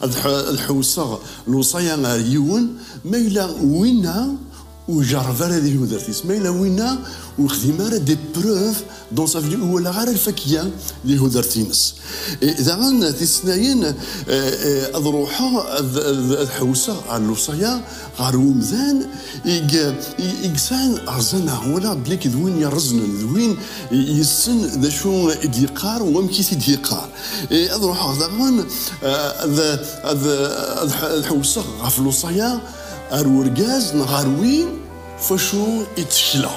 Ad ḥewseɣ lewṣaya ar yiwen, ma yella winna ur ijerreb ara di tudert-is, ma yella winna ur ixdim ara des preuves dans sa vie, ur walaɣ ara lfakya di tudert-ines. Daɣen tis-nnayen ad ruḥeɣ ad ḥewseɣ ar lewṣaya ɣer umdan i yesɛan rzana wala belli d win yerreznen d win yessen d acu i d-yeqqar u amek i t-id-yeqqar e, ad ruḥeɣ daɣen e, ad ḥewseɣ ɣef lewṣaya ar urgaz neɣ ar win facu i ttekleɣ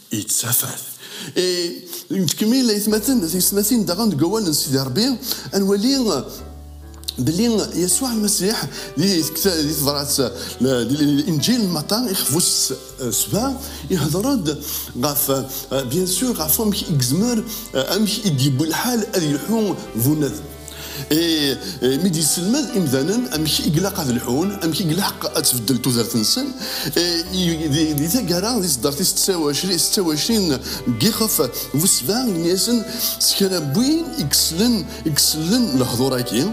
yettafat. E, nettkemmil aytmaten tiyesmatin daɣen deg awal n Sidi Rebbi ad nwali belli Yasuɛ Lmasiḥ di tebrat di Inǧil n Maṭa ixbus sba ihder-d ɣef bien sûr ɣef wamek i yezmer amek i d-yewwi lḥal ad yelḥu bunadem. mi d-yesselmed imdanen amek i ilaq ad lḥun amek i ilaq ad tbeddel tudert-nsen di taggara di tdart is 26 gixef bu sebba ini-asen s kra win i yeslen i yeslen lehdur-agi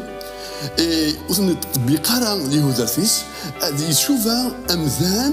ur ten-iṭbiq ara di tudert-is ad icuba amdan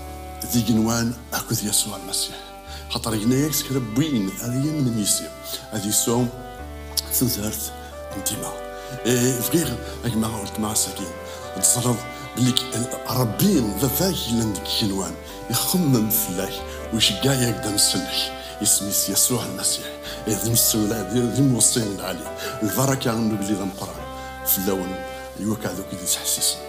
d igenwan akked Yasuɛ Lmasiḥ, xaṭer yenna-ak s kra n win ara yamnen yis-i, ad yesɛu tazart n dima. E, bɣiɣ a gma weltma ass-agi ad teẓreḍ belli Ṛebbi Baba-k yellan deg igenwan, ixemmem fell-ak u iceggeɛ-ak d amselleḥ. Isem-is Yasuɛ Lmasiḥ, e, d imsemlal, d imweṣṣi n lɛali. Lbaraka n ugellid ameqqran fell-awen i wakk aɛdaw-ik i d-yettḥessisen.